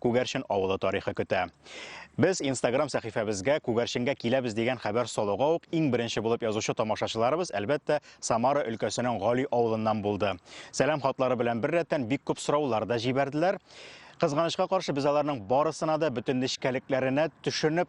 Күгәрчен авылы тарихы көтә. Без Instagram сәхифәбезгә Күгәрченгә киләбез дигән хәбәр салуга ук иң беренче булып язучы тамашачыларыбыз, әлбәттә, Самара өлкәсенең Гали авылыннан булды. Сәлам хатлары белән беррәттән бик күп сораулар да җибәрделәр. Кызганычка каршы, без аларның барысына да бөтен нечкәлекләренә төшенеп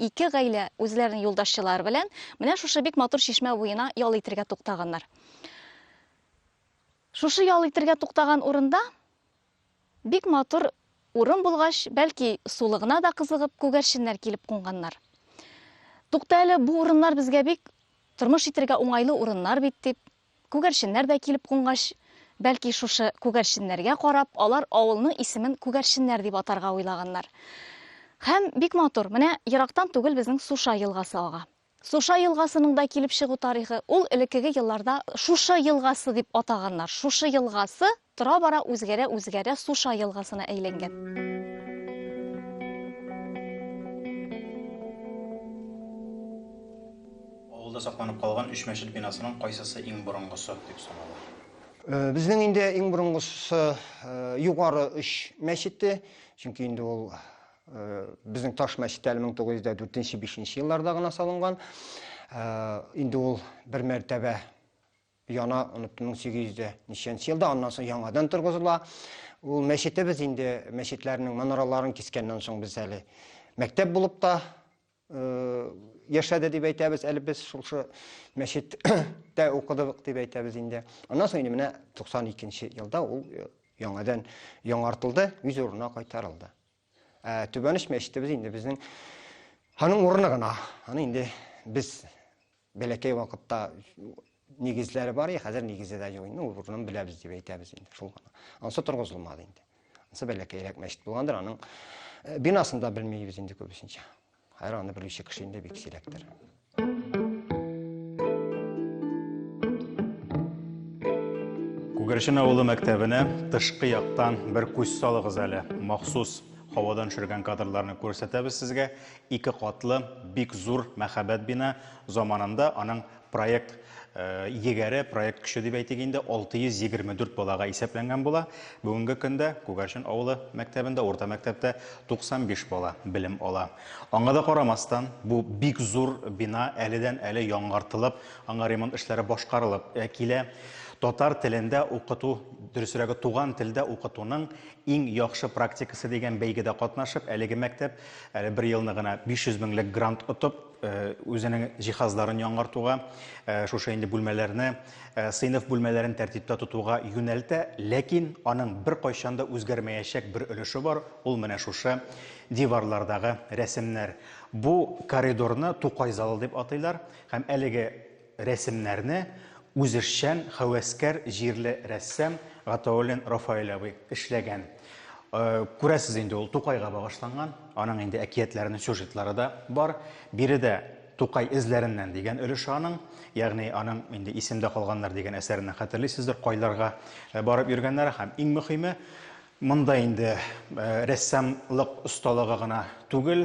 Ике гаилә үзләренең юлдашчылары белән менә шушы бик матур чишмә буена ял итергә туктаганнар. Шушы ял итергә туктаган урында бик матур урын булгач, бәлки сулыгына да кызыгып, күгәрченнәр килеп кунганнар. Тукта әле, бу урыннар безгә бик тормыш итергә уңайлы урыннар бит дип, Күгәрченнәр дә килеп кунгач, бәлки шушы күгәрченнәргә карап, алар авылның исемен Күгәрченнәр дип атарга уйлаганнар. Һәм бик матур, менә ерактан түгел безнең Суша елгасы ага. Суша елгасының да килеп чыгу тарихы, ул элеккеге елларда Шушы елгасы дип атаганнар, шушы елгасы Тора-бара үзгәрә-үзгәрә Суша елгасына әйләнгән. Авылда сакланып калган өч мәчет бинасының кайсысы иң борынгысы дип санала? Безнең инде иң борынгысы Югары Өч мәчете, чөнки инде ул безнең таш мәчет әле 1904-5 елларда гына салынган. Инде ул бер мәртәбә яна, оныттым, 1800-дә ничәнче елда, аннан соң яңадан торгызыла. Ул мәчетебез инде мәчетләрнең манараларын кискәннән соң без әле мәктәп булып та э, яшәде дип әйтәбез, әле без шушы мәчеттә укыдык дип әйтәбез инде. Аннан соң инде менә 92 елда ул э, яңадан яңартылды, үз урынына кайтарылды. Ә Түбәнеш мәчетебез инде безнең аның урыны гына. Аны инде без бәләкәй вакытта нигезләре бар, хәзер нигезе дә юк инде, урынын беләбез дип әйтәбез инде, шул гына. Ансы торгызылмады инде. Ансы бәләкәйрәк мәчет булгандыр, аның э, бинасын да белмибез инде күбесенчә. Хәер, аны белүче кеше инде бик сирәктер. Күгәрчен авылы мәктәбенә тышкы яктан бер күз салыгыз әле. Махсус һавадан төшергән кадрларны күрсәтәбез сезгә. Ике катлы, бик зур мәһабәт бина. Заманында аның Проект егәре, проект көче дип әйтик инде, 624 балага исәпләнгән була. Бүгенге көндә Күгәрчен авылы мәктәбендә, урта мәктәптә 95 бала белем ала. Аңа да карамастан, бу бик зур бина әледән-әле яңартылып, аңа ремонт эшләре башкарылып килә. Татар телендә укыту, дөресрәге, туган телдә укытуның иң яхшы практикасы дигән бәйгедә катнашып, әлеге мәктәп әле бер елны гына 500 меңлек грант отып, үзенең җиһазларын яңартуга, шушы инде бүлмәләрне, сыйныф бүлмәләрен тәртиптә тотуга юнәлтә, ләкин аның бер кайчан да үзгәрмәячәк бер өлеше бар, ул менә шушы диварлардагы рәсемнәр. Бу коридорны Тукай залы дип атыйлар һәм әлеге Рәсемнәрне үзешчән хәвәскәр җирле рәссам Гатауллин Рафаэль абый эшләгән. Күрәсез инде, ул Тукайга багышланган, аның инде әкиятләренең сюжетлары да бар. Биредә Тукай эзләреннән дигән өлеше аның, ягъни аның инде Исемдә калганнар дигән әсәреннән хәтерлисездер, кайларга барып йөргәннәре һәм иң мөхиме, Монда инде рәссамлык осталыгы гына түгел,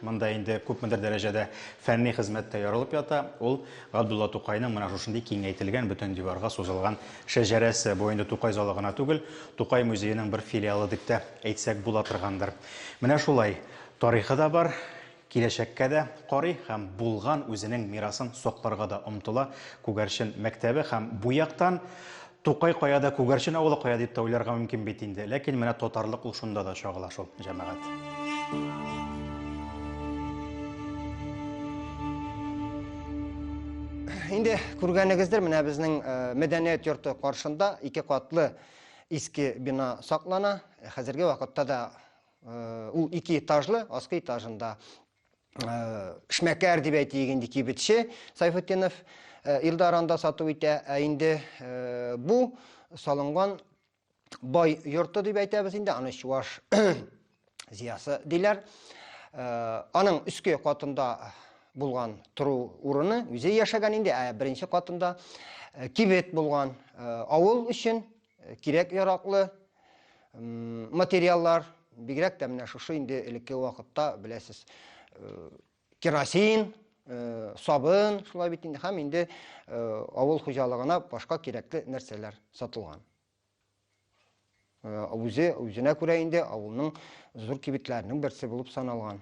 монда инде күпмедер дәрәҗәдә фәнни хезмәт тә ярылып ята. Ул Габдулла Тукайның менә шушындый киңәйтелгән, бөтен диварга сузылган шәҗәрәсе. Бу инде Тукай залы гына түгел, Тукай музееның бер филиалы дип тә әйтсәк була торгандыр. Менә шулай, тарихы да бар, Киләчәккә дә карый һәм булган үзенең мирасын сакларга да омтыла. Күгәрчен мәктәбе һәм бу яктан Тукай каяда, Күгәрчен авылы кая дип тә уйларга мөмкин бит инде. Ләкин менә татарлык ул шунда да чагыла шул, җәмәгать. Инде күргәнегездер, менә безнең э, мәдәният йорты каршында ике катлы иске бина саклана. Хәзерге вакытта да Ул ике этажлы, аскы этажында эшмәкәр дип әйтик инде кибетче Сайфутдинов Илдар анда сату итә. Ә инде бу салынган бай йорты дип әйтәбез инде, аны чуаш зиясы диләр. Аның өске катында булган тору урыны үзе яшәгән инде, ә беренче катында кибет булган авыл өчен Кирәк-яраклы материаллар, бигрәк тә менә шушы инде элекке вакытта, беләсез, керосин, сабын, шулай бит инде, һәм инде авыл хуҗалыгына башка кирәкле нәрсәләр сатылган. Үзе, үзенә күрә инде авылның зур кибетләренең берсе булып саналган.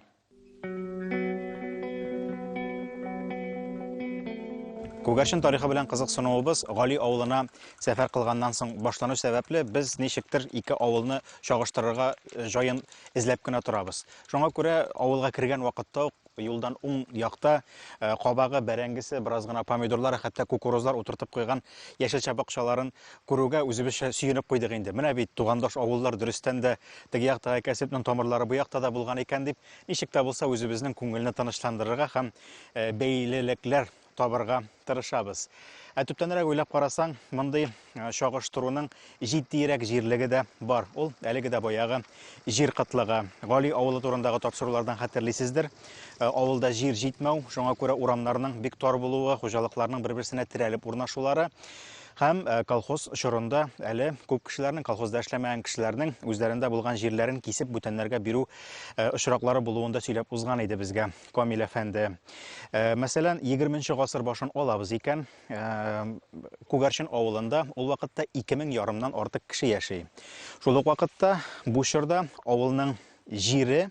Күгәрчен тарихы белән кызыксынуыбыз Гали авылына сәфәр кылганнан соң башлану сәбәпле, без ничектер ике авылны чагыштырырга э, җаен эзләп кенә торабыз. Шуңа күрә авылга кергән вакытта ук юлдан уң якта э, кабагы, бәрәңгесе, бераз гына помидорлар, хәтта кукурузлар утыртып куйган яшелчә бакчаларын Күрүгә үзебезчә сөенеп куйдык инде. Менә бит, тугандаш авыллар, дөрестән дә, теге яктагы кәсепнең тамырлары бу якта да булган икән, дип, ничек тә булса үзебезнең күңелне тынычландырырга һәм бәйлелекләр табырга тырышабыз. Ә төптәнрәк уйлап карасаң, мондый чагыштыруның җитдиерәк җирлеге дә бар. Ул әлеге дә баягы җир кытлыгы. Гали авылы турындагы тапшырулардан хәтерлисездер. Авылда җир җитмәү, шуңа күрә урамнарның бик тар булуы, хуҗалыкларның бер-берсенә терәлеп урнашулары. Һәм колхоз чорында әле күп кешеләрнең, колхозда эшләмәгән кешеләрнең үзләрендә булган җирләрен кисеп бүтәннәргә бирү очраклары булуын да сөйләп узган иде безгә Камил әфәнде. Мәсәлән, 20 гасыр башын алабыз икән, Күгәрчен авылында ул вакытта 2000 ярымнан артык кеше яши. Шул ук вакытта бу чорда авылның җире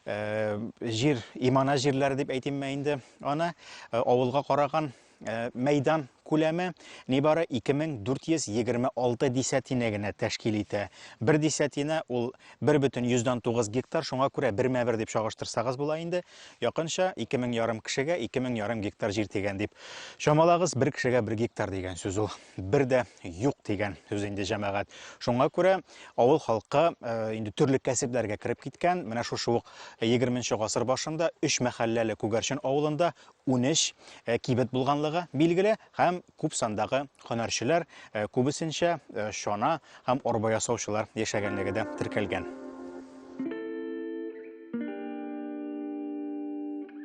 җир имана җирләре дип әйтимме инде аны авылга караган Э, мәйдан күләме нибары 2426 десятина генә тәшкил итә. Бер десятина ул 1,9 гектар, шуңа күрә бермә бер дип чагыштырсагыз була инде. Якынча 2000 ярым кешегә 2000 ярым гектар җир дигән дип. Чамалагыз, бер кешегә бер гектар дигән сүз ул. Бер дә юк дигән сүз инде җәмәгать. Шуңа күрә авыл халкы э, инде төрле кәсепләргә кереп киткән. Менә шушы ук 20 нчы гасыр башында 3 мәхәлләле Күгәрчен авылында Унөч кибет булганлыгы билгеле һәм күп сандагы һөнәрчеләр, күбесенчә чана һәм арба ясаучылар яшәгәнлеге дә теркәлгән.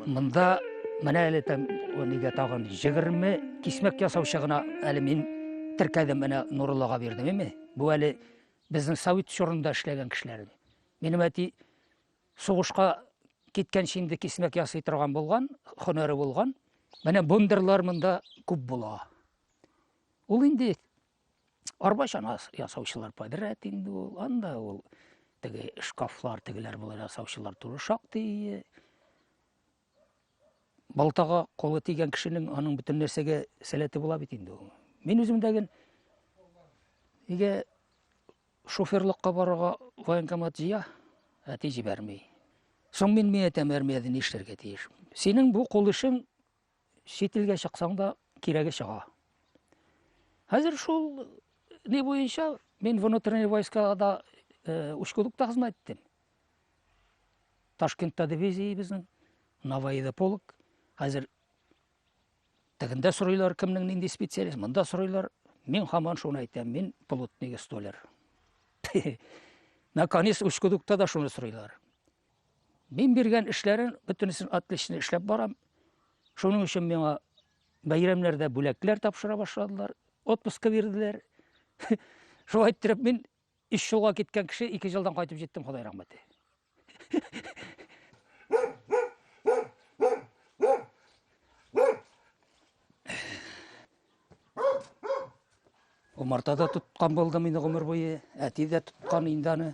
Монда менә әле тәм, нигә тагын 20 кисмәк ясаучы гына әле мин теркәдем, менә Нуруллага бирдем, име? Бу әле безнең совет чорында эшләгән кешеләр. Минем әти Сугышка киткәнче инде кисмәк ясый торган булган, хөнәре булган. Менә бундырлар монда күп була. Ул инде арба чана ясаучылар подряд инде ул. Анда ул теге шкафлар, тегеләр булар ясаучылар туры шактый. балтага колы тигән кешенең аның бөтен нәрсәгә сәләте була бит инде ул. Мин үзем дәген нигә шоферлыкка барырга военкомат җыя, әти җибәрми. Соң мин мин әйтәм армиядә ни эшләргә тиеш. Синең бу кул эшең чит илгә чыксаң да кирәге чыга. Хәзер шул ни буенча мин внутренний войскада э, учкудукта хезмәт иттем. Ташкентта дивизиябезнең, Наваида полк. Хәзер тегендә сорыйлар, кемнең нинди специалист, монда сорыйлар. Мин хаман шуны әйтәм, мин плотник столер. Наконец, Ускудукта да шуны сорыйлар. Мин биргән эшләрен бөтенесен отлично эшләп барам. Шуның өчен миңа бәйрәмнәрдә бүләкләр тапшыра башладылар, отпуска бирделәр. Шулай иттереп мин Өч жылга киткән кеше ике жылдан кайтып җиттем, Ходай рәхмәте. Умарта да тоткан булдым инде гомер буе, әти дә тоткан инде аны.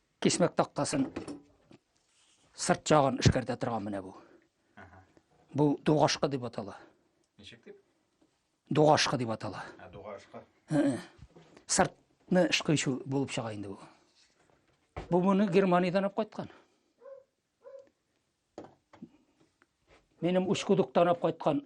Кисмәк тактасын сырт ягын эшкәртә торган менә бу. Бу дугашка дип атала. Ничек дип? Дугашка дип атала. Ә дугашка. Сыртны эшкыйчу булып чыга инде бу. Бу моны Германиядән алып кайткан. Минем учкудуктан алып кайткан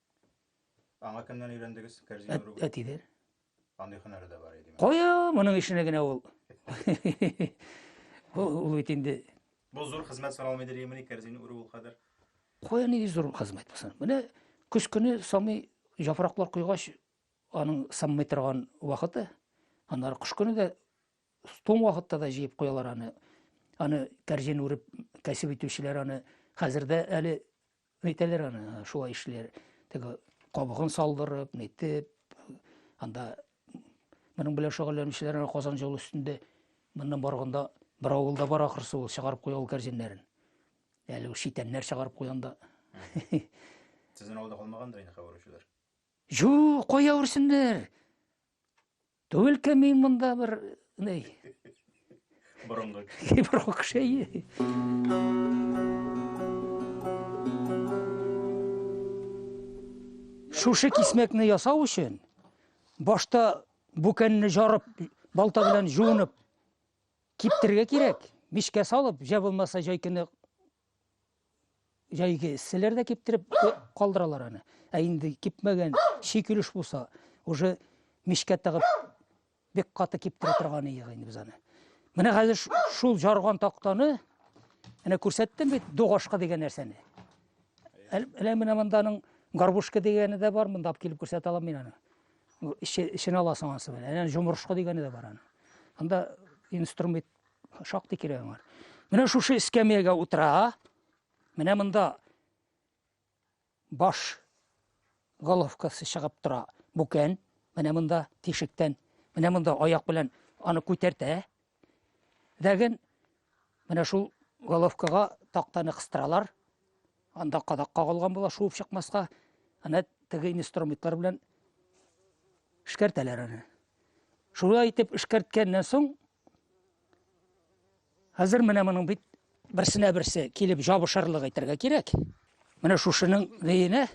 Аңа кемнән өйрәндегез? Кәрзин Әт, өрүгә? әтидән. Андый һөнәре дә бар иде. Кая моның эшенә генә ул. Ул ул бит инде Бу зур хезмәт саналмый дилемени кәрзин үрү ул кадәр. кая нинди зур хезмәт булсын. Менә көз көне самый яфраклар куйгач, аның саммый торган вакыты. Аннары кыш көне дә туң вакытта да җыеп куялар аны. Аны кәрзин үреп кәсеп итүчеләр аны хәзер дә әле Нитәләр аны, шулай эшләр. Теге кабыгын салдырып, нитеп, анда моның белән шөгыльләнүчеләр аны Казан җолы өстендә моннан барганда бер авылда бар ахрысы ул чыгарып куя ул кәрзиннәрен. Әле ул шитәннәр чыгарып куянда. Сезнең авылда калмагандыр инде хәбәрчеләр. Жу, кая үрсеннәр? Түгел кем мин монда бер ней. Борынгы. Борынгы кеше. Шушы кисмәкне ясау өчен башта бүкәнне жарып, балта белән жуынып киптерергә кирәк. Мишкә салып, җә булмаса җайкыны Җәйге эсселәр дә киптереп калдыралар аны. Ә инде кипмәгән шикелеш булса, уже мичкә тыгып бик каты киптерә торган иек инде без аны. Менә хәзер шул жарган тактаны әнә күрсәттем бит дугашка дигән нәрсәне. Әле менә монданың горбушка дигәне дә бар, монда килеп күрсәтә алам мин аны. Эчен аласың анысы белән. Әнә җомырышка дигәне дә бар аны. Анда инструмент Шактый кирәк аңар. Менә шушы эскәмиягә утыра. Менә монда баш головкасы чыгып тора. Бүкән. Менә монда тишектән. Менә монда аяк белән аны күтәртә. Дәген менә шул головкага тактаны кыстыралар. Анда кадак кагылган була, шуып чыкмаска. Ана теге инструментлар белән эшкәртәләр аны. Шулай итеп эшкәрткәннән соң Хәзер менә моның бит берсенә берсе килеп жабышырлык әйтергә кирәк. Менә шушының рейенә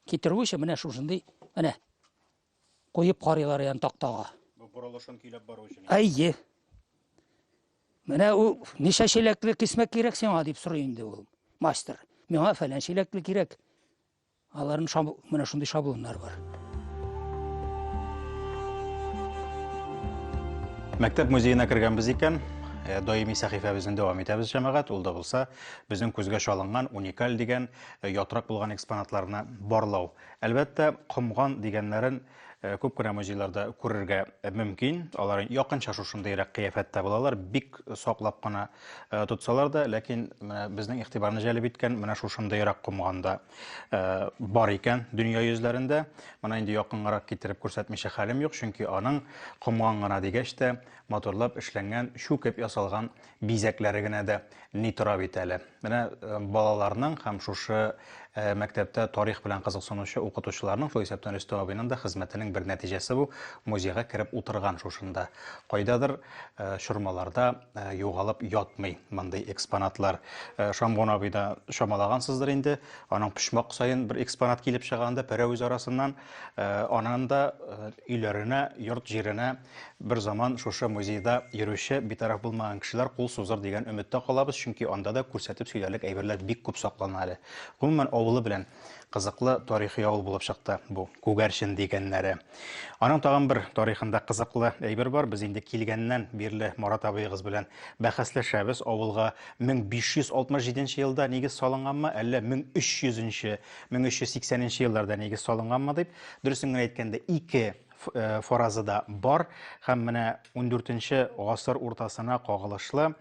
китерү өчен менә шушындый менә куеп карыйлар ян тактага. Бу борылышын көйләп бару өчен. Әйе. Менә ул ничә чиләкле кисмәк кирәк сиңа дип сорый инде ул мастер. Миңа фәлән чиләкле кирәк. Аларның шабл... менә шундый шаблоннар бар. Мәктәп музеена кергәнбез икән, э, даими сәхифәбезне дәвам итәбез, җәмәгать. Ул да булса, безнең күзгә чалынган уникаль дигән э, ятрак булган экспонатларны барлау. Әлбәттә, комган дигәннәрен Э, күп кенә музейларда күрергә мөмкин. Алар якынча шушындыйрак кыяфәттә булалар. Бик саклап кына э, тотсалар да, ләкин менә безнең игътибарны җәлеп иткән менә шушындыйрак комганда э, бар икән дөнья йөзләрендә. Моны инде якынгарак китереп күрсәтмичә хәлем юк, чөнки аның комган гына дигәч тә матурлап эшләнгән, чүкеп ясалган бизәкләре генә дә ни тора бит әле. Менә э, балаларның һәм шушы э, мәктәптә тарих белән кызыксынучы укытучыларның, шул исәптән Рөстәм абыйның да хезмәтенең бер нәтиҗәсе бу, музейга кереп утырган шушында. Кайдадыр э, чормаларда югалып ятмый мондый экспонатлар. Шамгон абый да чамалагансыздыр инде, аның почмак саен бер экспонат килеп чыганда пәрәвез арасыннан, анан да өйләренә, йорт җиренә Бер заман шушы музейда йөрүче битараф булмаган кешеләр кул сузыр дигән өметтә калабыз, чөнки анда да күрсәтеп сөйләрлек әйберләр бик күп саклана әле. Гомумән, авылы белән кызыклы тарихи авыл булып чыкты бу Күгәрчен дигәннәре. Аның тагын бер тарихында кызыклы әйбер бар. Без инде килгәннән бирле Марат абыегыз белән бәхәсләшәбез. Авылга 1567 нче елда нигез салынганмы, әллә 1300 нче, 1380 нче елларда нигез салынганмы дип. Дөресен генә әйткәндә, ике форазы да бар һәм менә 14-нче гасыр уртасына кагылышлы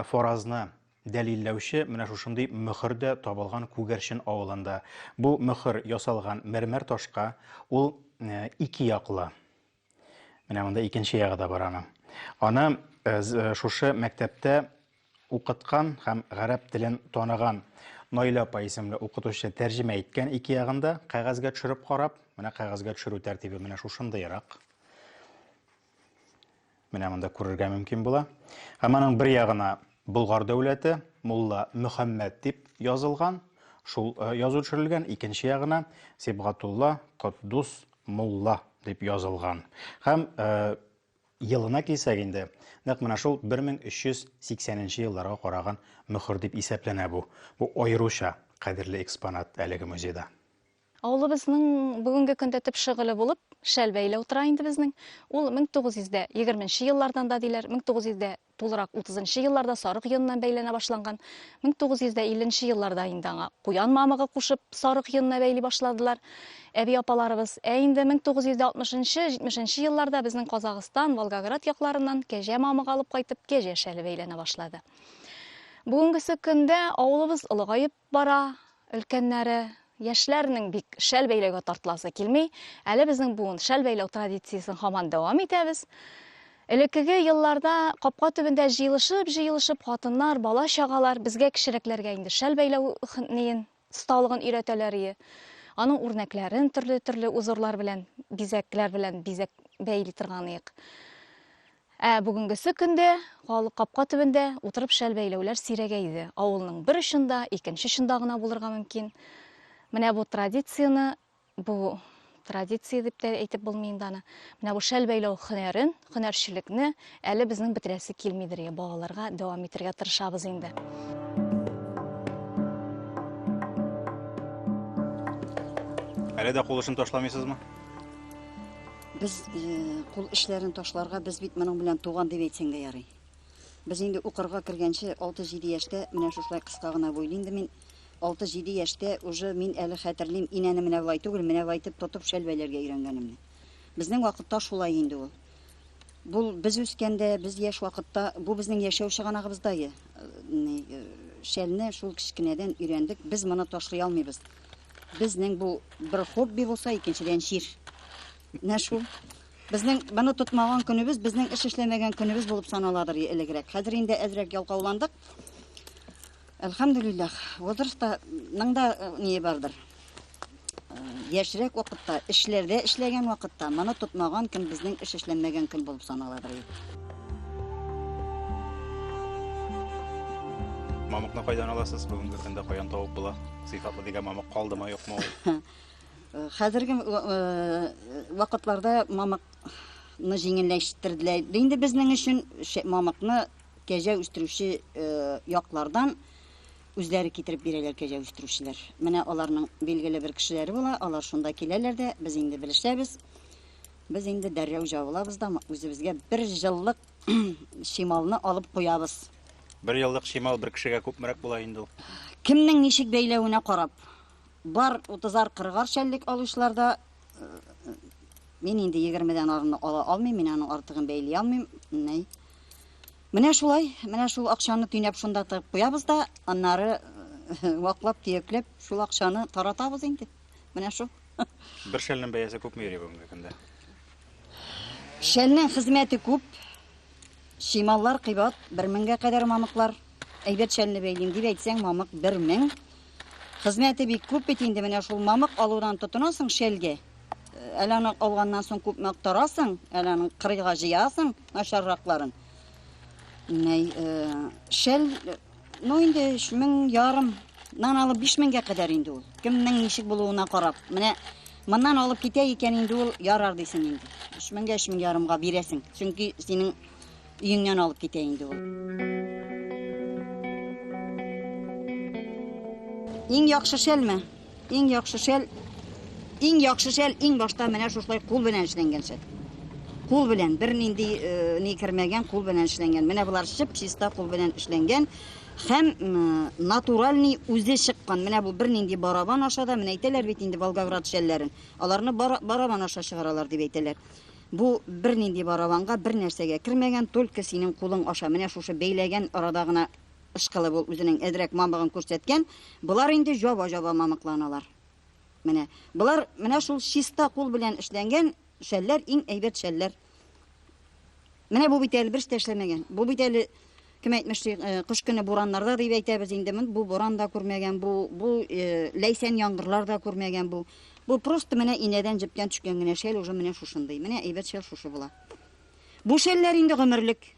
форазны дәлилләүче менә шушындый мөхер дә табылган Күгәрчен авылында. Бу мөхер ясалган мәрмәр ташка, ул ике яклы. Менә монда икенче ягы да бар аның. Аны шушы мәктәптә укыткан һәм гарәп телен таныган Наилә апа исемле укытучы тәрҗемә иткән ике ягын да кәгазьгә төшереп карап, менә кәгазьгә төшерү тәртибе менә шушындыйрак. Менә монда күрергә мөмкин була. Һәм аның бер ягына Болгар дәүләте, Мулла Мөхәммәд дип язылган, шул э, язу төшерелгән, икенче ягына Сибгатулла Котдус Мулла дип язылган. Һәм э, Елына килсәк инде, нәкъ менә шул 1380 нче елларга караган мөһер дип исәпләнә бу. Бу аеруча кадерле экспонат әлеге музейда. Авылыбызның бүгенге көндә төп шөгыле булып шәл бәйләү тора инде безнең. Ул 1920 нче еллардан да диләр, 1900 дә Тулырак утызынчы елларда сарык йоныннан бәйләнә башланган. 1950 нче елларда инде аңа куян мамыгы кушып, сарык йонына бәйли башладылар әби-апаларыбыз. Ә инде 1960 нчы, 70 нче елларда безнең Казагыстан, Волгоград якларыннан кәҗә мамыгы алып кайтып, кәҗә шәле бәйләнә башлады. Бүгенгесе көндә авылыбыз олыгаеп, Бара, өлкәннәре, яшьләрнең бик шәл бәйләүгә тартыласы килми. Әле безнең буын шәл бәйләү традициясен хаман дәвам итәбез. Элеккеге елларда капка төбендә җыелышып-җыелышып хатыннар, бала-чагалар безгә кечерәкләргә инде шәл бәйләү хнеен, осталыгын өйрәтәләр ие. Аның үрнәкләрен төрле-төрле узорлар белән, бизәкләр белән бизәк бәйли торган иек. Ә бүгенгесе көндә халык капка төбендә утырып шәл бәйләүләр сирәгәй иде. Авылның бер очында, икенче очында гына булырга мөмкин. Менә бу традицияне, бу традиция дип тә әйтеп булмый инде аны. Менә бу шәл бәйләү хөнәрен, хөнәрчелекне әле безнең бетерәсе килмидер, я балаларга дәвам итергә тырышабыз инде. Әле дә кул эшен ташламыйсызмы? Без кул эшләрен ташларга без бит моның белән туган дип әйтсәң дә ярый. Без инде укырга кергәнче 6-7 яшьтә менә шушылай кыска гына буйлы инде мин 6-7 яшьтә уже мин әле хәтерлим инәне менә болай түгел, менә болай итеп тотып шәлбәйләргә өйрәнгәнемне. Безнең вакытта шулай инде ул. Бу без үскәндә, без яшь вакытта, бу безнең яшәү чыганагыбызда шәлне шул кечкенәдән өйрәндек. Без моны ташлый алмыйбыз. Безнең бу бер хобби булса, икенчедән җир. Менә шул. Безнең моны тотмаган көнебез, безнең эш эшләмәгән көнебез булып саналадыр элегрәк. Хәзер инде әзрәк ялкауландык. Әлхәмдүлиллах, возрастның да э, ние бардыр. Э, яшьрәк вакытта, эшләрдә эшләгән вакытта, моны тотмаган көн безнең эш эшләмәгән көн булып саналадыр. Мамыкны кайдан аласыз? Бүгенге көндә каян тавып була? Сыйфатлы дигән мамык калдымы, юкмы ул? Э, хәзерге э, э, вакытларда мамыкны җиңелләштерделәр. Инде безнең өчен мамыкны кәҗә үстерүче яклардан үзләре китереп бирәләр кәҗә үстерүчеләр. Менә аларның билгеле бер кешеләре була, алар шунда киләләр дә, без инде белешәбез. Без инде дәррәү җавылабыз да, үзебезгә бер җыллык шималны алып куябыз. Бер еллык чимал бер кешегә күпмерәк була инде ул. Кемнең ничек бәйләвенә карап. Бар 30-40 шәллек алучыларда мин инде 20-дән арыны ала алмыйм, мин аның артыгын бәйли алмыйм. Ней. Менә шулай, менә шул акчаны төйнәп шунда тыгып куябыз да, аннары э, ваклап, төякләп, шул акчаны таратабыз инде. Менә шул. Бер шәлнең бәясе күпме йөри бүгенге көндә? Шәлнең хезмәте күп. Чималлар кыйбат, бер меңгә кадәр мамыклар. Әйбәт шәлне бәйлим дип әйтсәң, мамык бер мең. Хезмәте бик күп бит инде, менә шул мамык алудан тотынасың шәлгә. Әле аны алганнан соң күпме актарасың, әле аны кырыйга җыясың, начарракларын. Менә шәл Ну инде өч мең ярым нан алып биш меңгә кадәр инде ул. Кемнең ничек булуына карап. Менә моннан алып китә икән инде ул ярар дисең инде. Өч меңгә өч мең ярымга бирәсең. Чөнки синең өеңнән алып китә инде ул. Иң яхшы шәлме? Иң яхшы шәл, иң яхшы шәл иң башта менә шушылай кул белән эшләнгән шәл. Кул белән бернинди э, ни кермәгән, кул белән эшләнгән. Менә болар шып чиста кул белән эшләнгән һәм натуральный үзе чыккан. Менә бу бернинди барабан аша да, менә әйтәләр бит инде Волгоград шәлләрен. Аларны барабан аша чыгаралар дип әйтәләр. Бу бернинди барабанга бер нәрсәгә кермәгән, только синең кулың аша. Менә шушы бәйләгән арада гына Ышкылып ул үзенең әзрәк мамыгын күрсәткән, болар инде җаба-җаба мамыкланалар. Менә, болар менә шул чиста кул белән эшләнгән шәлләр, иң әйбәт шәлләр. Менә бу бит әле берс тә эшләмәгән. Бу бит әле кем әйтмешли, э, кыш көне бураннарда дип әйтәбез инде. Мон бу буран да күрмәгән, бу бу э, ләйсән яңгырлар да күрмәгән бу. Бу просто менә инәдән җептән төшкән генә шәл уже менә шушындый. Менә әйбәт шәл шушы була. Бу шәлләр инде гомерлек.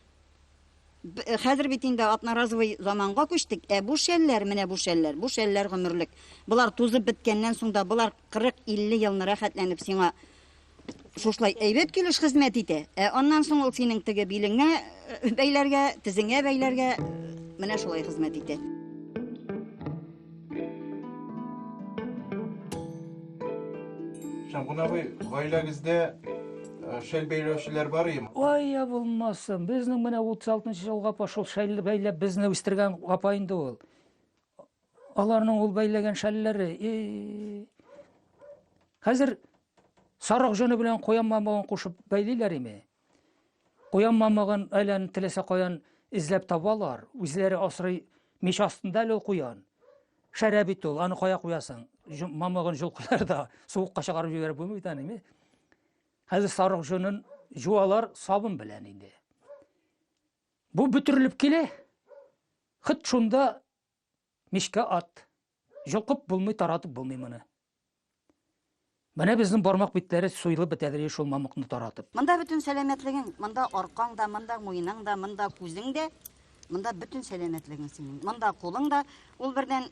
Хәзер бит инде атнаразовый заманга күчтек, ә бу шәлләр, менә бу шәлләр, бу шәлләр гомерлек. Болар тузып беткәннән соң да, болар 40-50 елны рәхәтләнеп сиңа шушлай әйбәт килеш хезмәт итә. Ә аннан соң ул синең теге билеңә э, бәйләргә, тезеңә бәйләргә, э, менә шулай хезмәт итә. Җанкун абый, гаиләгездә э, шәл бәйләүчеләр бар име? Ой, я булмасын. Безнең менә 36-нчы елга пошел шәл бәйләп безне үстергән апа инде ул. Аларның ул бәйләгән шәлләре. Хәзер сарык җоны белән куян мамыгын кушып бәйлиләр име? Куян мамыгын айланып теләсә каян эзләп табалар, үзләре асрый мич астында әле ул куян. Шәрә бит ул, аны кая куясың? Мамыгын җолкыйлар да, суыкка чыгарып җибәреп булмый да ниме? Хәзер сарык җонын жуалар сабын белән инде. Бу бөтерелеп килә. Хыт шунда мичкә ат. Йолкып булмый, таратып булмый моны. Менә безнең бармак битләре суелып бетәдер шул мамыкны таратып. Монда бөтен сәламәтлегең, монда аркаң да, монда муеның да, монда күзең дә, монда бөтен сәламәтлегең синең. Монда кулың да, ул бердән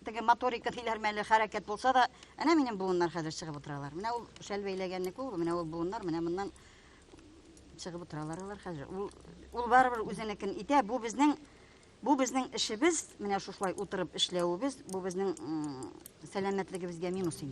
теге моторика диләр мәле хәрәкәт булса да, әнә минем буыннар хәзер чыгып утыралар. Менә ул шәл бәйләгәнне күр, менә ул буыннар, менә моннан чыгып утыралар алар хәзер. Ул, ул барыбер үзенекен итә, бу безнең Бу безнең эшебез, менә шушылай утырып эшләвебез, бу безнең сәламәтлегебезгә минус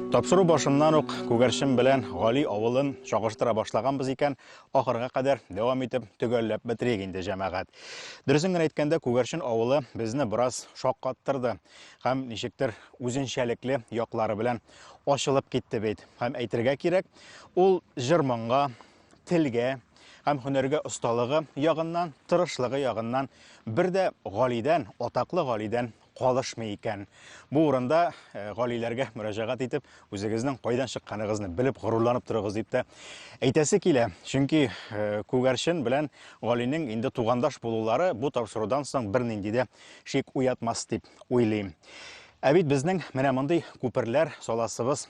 Тапсыру башыннан ук күгәрчен белән Гали авылын чагыштыра башлаганбыз икән, Ахырга кадәр дәвам итеп төгәлләп бетерик инде, җәмәгать. Дөресен генә әйткәндә, Күгәрчен авылы безне бераз шаккаттырды һәм ничектер үзенчәлекле яклары белән ачылып китте бит. Һәм әйтергә кирәк, ул җыр-моңга, телгә һәм һөнәргә осталыгы ягыннан, тырышлыгы ягыннан бер дә Галидән, атаклы Галидән калышмый икән. Бу урында э, галиләргә мөрәҗәгать итеп, үзегезнең кайдан чыкканыгызны белеп горурланып торыгыз дип тә әйтәсе килә. Чөнки э, Күгәрчен белән галинең инде тугандаш булулары бу тапшырудан соң бернинди дә шик уятмас дип уйлыйм. Ә бит безнең менә мондый күперләр саласыбыз